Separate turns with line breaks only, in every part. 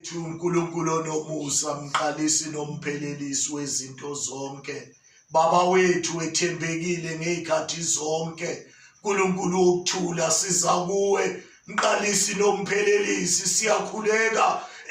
Thu uNkulunkulu onomusa mqalisi nomphelelisi wezinto zonke baba wethu ethembekile ngezikhathi zonke uNkulunkulu wokuthula siza kuwe mqalisi nomphelelisi siyakhuleka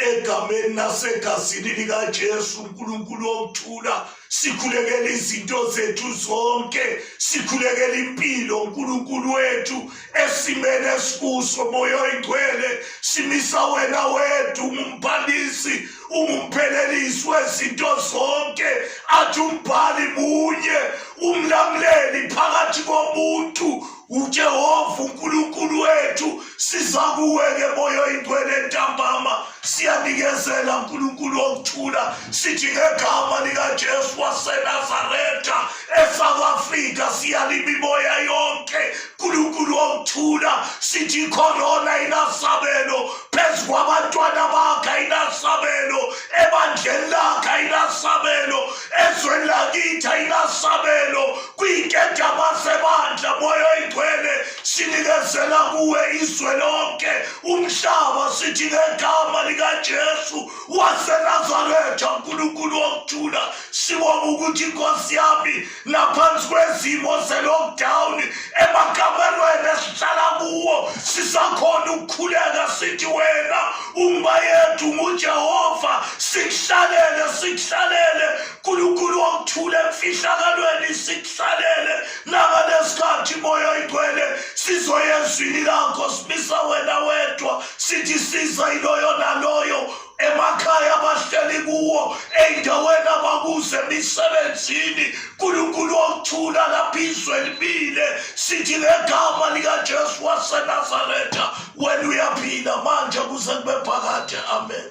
egameni nasegazini likaJesu uNkulunkulu wokuthula sikhulekela izinto zethu zonke sikhulekela impilo uNkulunkulu wethu esimene esikuso moya oyingcwele simisa wena wethu umphalisi umphelelisi wezinto zonke athi umbhali munye umlamuleli phakathi komuntu UJehova uNkulunkulu wethu siza kuwe ngeboya oyingcwele entambama siyanikezela uNkulunkulu wokuthula sithi ngegama likaJesu waseNazaretha eSouth Africa siyalima imoya yonke uNkulunkulu wokuthula sithi ikhorona inasabelo phezu kwabantwana bakhe inasabelo ebandleni lakhe inasabelo ezweni lakithi ayinasabelo kwinkejama sebandla moya oyigcwele sinikezela kuwe izwe lonke umhlaba sithi ngegama likajesu wasenazaretha nkulunkulu wokuthula sibonga ukuthi inkosi yami naphansi kwezimo ze-lockdown emakamelweni esihlala kuwo sisakhona ukukhuleka sithi wena Umba yethu nguJehova sikuhlalele sikuhlalele uNkulunkulu wokuthula emfihlakalweni sikuhlalele naka lesikhathi moya igcwele sizoya ezwini lakho simisa wena wedwa sithi siza iloyo naloyo emakhaya abahleli kuwo ey'ndaweni abakuze emisebenzini uNkulunkulu wokuthula lapho izwe libile sithi ngegama likaJesu waseNazaretha wena uyaphila manje kuze kube phakade amen